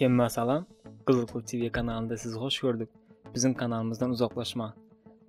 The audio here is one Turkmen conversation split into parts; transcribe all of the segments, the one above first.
Hemme salam. Gyzykly TV kanalynda sizi hoş gördük. Biziň kanalymyzdan uzaklaşma.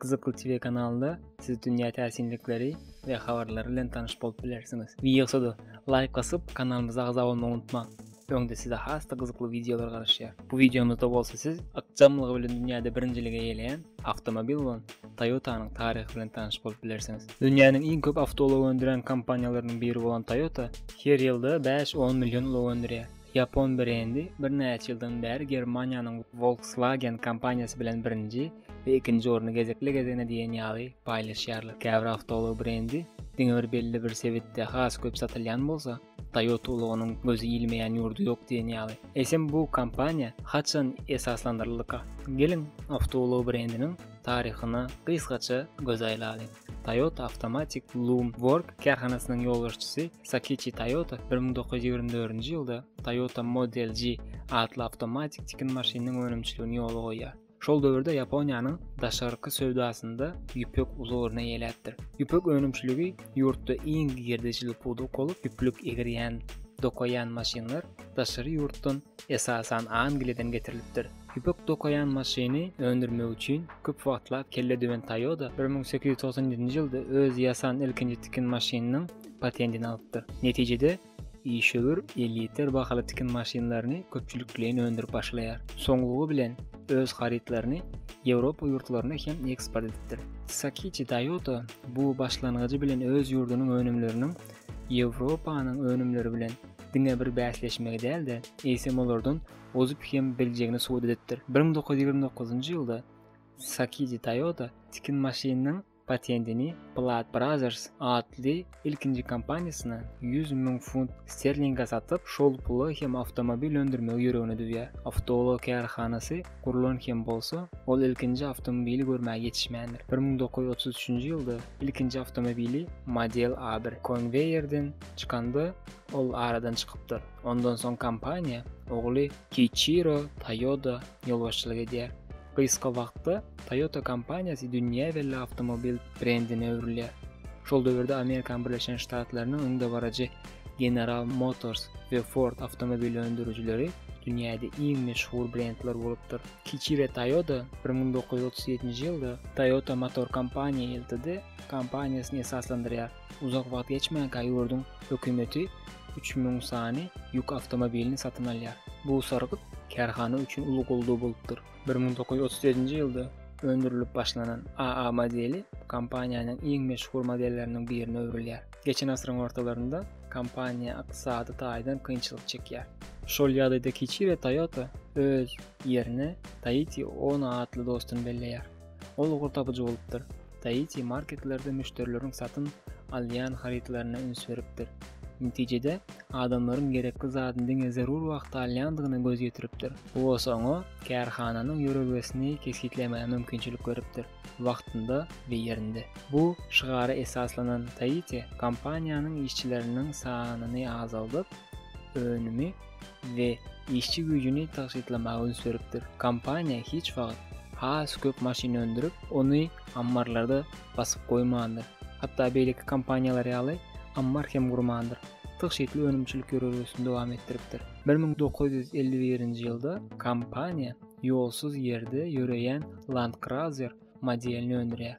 Gyzykly TV kanalynda siz dünýä täsinlikleri we habarlary bilen tanyş bolup bilersiňiz. Wideoda like basyp kanalymyza agza bolmagy unutmaň. Öňde size has-da gyzykly wideolar garaşýar. Bu wideomyzda bolsa siz ykjamlygy bilen dünýäde birinjiligi eýeleýän awtomobil bolan Toyota-nyň taryhy bilen tanyş bolup bilersiňiz. Dünýäniň iň köp awtoulag öndürýän kompaniýalarynyň biri bolan Toyota her ýylda bäş-on million ulag öndürýär. Ýapon brendi birnäçe ýyldan bäri Germaniýanyň Volkswagen kompaniýasy bilen birinji we ikinji orny gezekli-gezegine diýen ýaly paýlaşýarlar. Käbir awtoulag brendi diňe bir belli bir sebitde has köp satylýan bolsa, Toyota ulagynyň gözi ilmeýän ýurdy ýok diýen ýaly. Eýsem bu kompaniýa haçan esaslandyryldyka? Geliň, awtoulag brendiniň taryhyna gysgaça göz aýlalyň. Toyota Automatic Loom Work kärhanasynyň ýolbaşçysy Sakiçi Toyota bir müň dokuz ýüz ýigrimi dördünji ýylda Toyota Model G atly awtomatik tikin maşynynyň önümçiligini ýola goýýar. Şol döwürde Ýaponiýanyň daşarky söwdasynda ýüpek uly orun eýeläpdir. Ýüpek önümçiligi ýurtda iň girdejili pudak bolup, ýüplük egirýän, dokaýan maşynlar daşary ýurtdan, esasan Angliýadan getirilipdir. Ýüpek dokaýan maşyny öndürmek üçin köp wagtlap kelle döwen Toyota bir müň sekiz ýüz togsan ýedinji ýylda öz ýasan ilkinji tikin maşynynyň patentini alypdyr. Netijede, Işewür elýeter bahaly tikin maşynlaryny köpçülikleýin öndürip başlaýar. Soňlugy bilen öz harytlaryny Ýewropa ýurtlaryna hem eksport edipdir. Sakiçi Toyota bu başlangyjy bilen öz ýurdunyň önümleriniň Ýewropanyň önümleri bilen diňe bir bäsleşmegi däl-de, eýsem olardan ozup hem biljegini subut edipdir. Bir müň dokuz ýüz ýigrimi dokuzynjy ýylda Sakiçi Toyota tikin maşynynyň patentini Plaid Brothers atly ilkinji kompaniýasyna ýüz müň funt sterlinge satyp, şol pula hem awtomobil öndürmegi ýüregine düwýär. Awtoulag kärhanasy gurlan hem bolsa, ol ilkinji awtomobili görmäge ýetişmändir. Bir müň dokuz ýüz otuz üçünji ýylda ilkinji awtomobili Model A bir konweýerden çykanda, ol aradan çykypdyr. Ondan soň kompaniýa ogly Kiiçiro Toýoda ýolbaşçylyk edýär. Gysga wagtda Toyota kompaniýasy dünýä belli awtomobil brendine öwrülýär. Şol döwürde Amerikan Birleşen Ştatlarynyň öňdebaryjy General Motors we Ford awtomobil öndürijileri dünýäde iň meşhur brendler bolupdyr. Kichire Toyoda bir müň dokuz ýüz otuz ýedinji ýylda Toyota Motor Company Ltd. kompaniýasyny esaslandyrýar. Uzak wagt geçmänkä ýurduň hökümeti üç müň sany ýük awtomobilini satyn alýar. Bu sargyt kärhana üçin uly goldaw bolupdyr. Bir müň dokuz ýüz otuz ýedinji ýylda öndürilip başlanan AA modeli kompaniýanyň iň meşhur modelleriniň birine öwrülýär. Geçen asyryň ortalarynda kompaniýa ykdysady taýdan kynçylyk çekýär. Şol ýagdaýda kiçi we Toyota öz ýerine Taiti Uno atly dostuny belleýär. Ol ugur tapyjy bolupdyr. Daichi marketlerde müşderileriň satyn alýan harytlaryna üns beripdir. Netijede, adamlaryň gerekli zadyny diňe zerur wagtda alýandygyna göz ýetiripdir. Bu bolsa oňa kärhananyň ýörelgesini kesgitlemäge mümkinçilik beripdir, wagtynda we ýerinde. Bu şygara esaslanan Daichi kompaniýanyň işçileriniň sanyny azaldyp, önümi we işçi güýjüni tygşytlamaga üns beripdir. Kompaniýa hiç wagt has köp maşyn öndürip, ony ammarlarda basyp goýmandyr. Hatda beýleki kompaniýalar ýaly ammar hem gurmandyr. Tygşytly önümçilik ýörelgesini dowam etdiripdir. Bir müň dokuz ýüz elli birinji ýylda kompaniýa ýolsuz ýerde ýöreýän Land Cruiser modelini öndürýär.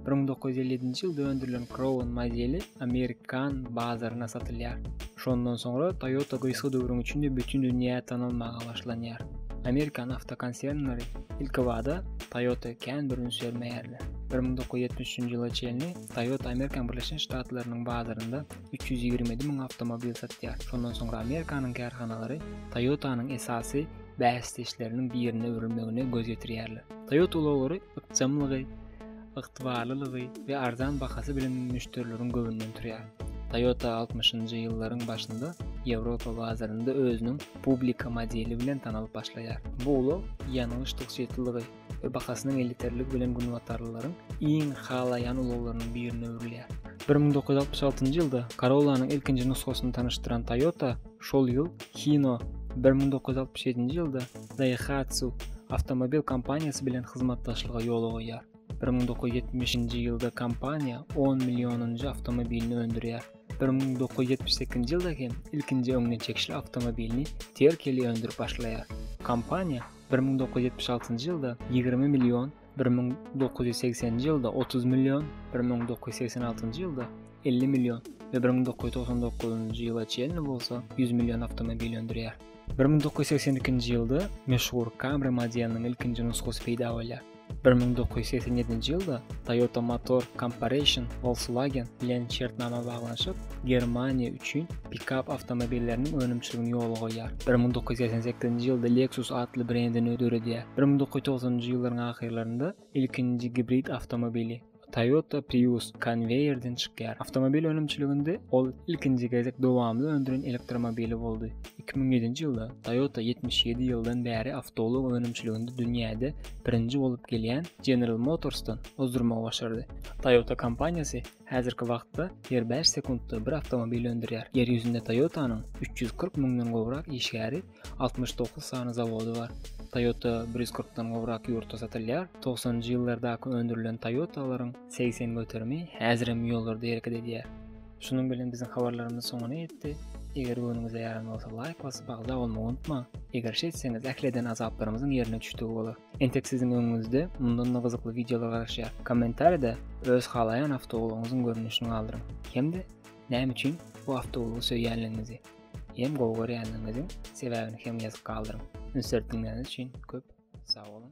Bir müň dokuz ýüz elli ýedinji ýylda öndürilen Crown modeli amerikan bazaryna satylýar. Şondan soňra Toyota gysga döwrüň içinde bütin dünýä tanalmaga başlanýar. Amerikan awtokonsernleri ilkibada Toyota kän bir üns bermeýärler. Bir müň dokuz ýüz ýetmiş üçünji ýyla çenli Toyota Amerikan Birleşen Ştatlarynyň bazarynda üç ýüz ýigrimi ýedi müň awtomobil satýar. Şondan soňra Amerikanyň kärhanalary Toyota-nyň esasy bäsdeşleriniň birine öwrülmegine göz ýetirýärler. Toyota ulaglary ykjamlygy, ygtybarlylygy we arzan bahasy bilen müşderileriň göwnünden turýar. Toyota 60-njy ýyllaryň başynda Ýewropa bazarynda özüniň publika modeli bilen tanalyp başlaýar. Bu ulag ýangyç tygşytlylygy, we bahasynyň elýeterligi bilen günbatarlylaryň iň halaýan ulaglarynyň birine öwrülýär. Bir müň dokuz ýüz altmyş altynjy ýylda Corolla-nyň ilkinji nusgasyny tanyşdyran Toyota şol ýyl Hino, bir müň dokuz ýüz altmyş ýedinji ýylda Daihatsu awtomobil kompaniýasy bilen hyzmatdaşlyga ýol goýýar. Bir müň dokuz ýüz ýetmişinji ýylda kompaniýa on millionynjy awtomobilini öndürýär. Bir müň dokuz ýüz ýetmiş sekizinji ýylda hem ilkinji öňden çekişli awtomobilini Terkeli öndürip başlaýar. Kompaniýa bir müň dokuz ýüz ýetmiş altynjy ýylda ýigrimi million, bir müň dokuz ýüz segseninji ýylda otuz million, bir müň dokuz ýüz segsen altynjy ýylda elli million we bir müň dokuz ýüz togsan dokuzynjy ýyla çenli bolsa ýüz million awtomobil öndürýär. Bir müň dokuz ýüz segsen ikinji ýylda meşhur Camry modeliniň ilkinji nusgasy peýda bolýar. Bir müň dokuz ýüz segsen ýedinji ýylda Toyota Motor Corporation Volkswagen bilen şertnama baglanyşyp, Germaniýa üçin pikap awtomobilleriniň önümçiligini ýola goýýar. Bir müň dokuz ýüz segsen sekizinji ýylda Lexus atly brendini döredýär. Bir müň dokuz ýüz togsanynjy ýyllaryň ahyrlarynda ilkinji gibrid awtomobili, Toyota Prius konweýerden çykýar. Awtomobil önümçiliginde ol ilkinji gezek dowamly öndüren elektromobili boldy. 2007-nji ýylda Toyota 77 ýyldan bäri awtoulag önümçiliginde dünýäde birinji bolup gelýän General Motors-dan ozdurmagy başardy. Toyota kompaniýasy häzirki wagtda her bäş sekuntda bir awtomobil öndürýär. Ýer ýüzünde Toyota-nyň üç ýüz kyrk müňden gowrak işgäri Altmyş dokuz sany zawody bar. Toyota bir ýüz kyrkdan gowrak ýurtda satylýar. Togsanjy ýyllardaky öndürilen Toyotalaryň segsen göterimi häzir hem ýollarda hereket edýär. Şunuň bilen biziň habarlarymyz soňuna ýetdi. Eger göwnüňize ýaran bolsa laýk basyp agza bolmagy unutmaň. Eger şeýtseňiz ähli eden azaplarymyzyň ýerine düşdügi bolar. Entek siziň öňüňizde mundan-da gyzykly wideolar garaşýar. Kommentariýada öz halaýan awtoulagyňyzyň görnüşini galdyryň hem-de näme üçin bu awtoulagy söýýänligiňizi. Hem gowy görýänligiňiziň sebäbini hem ýazyp galdyryň. Üns berip diňläniňiz üçin köp sag boluň.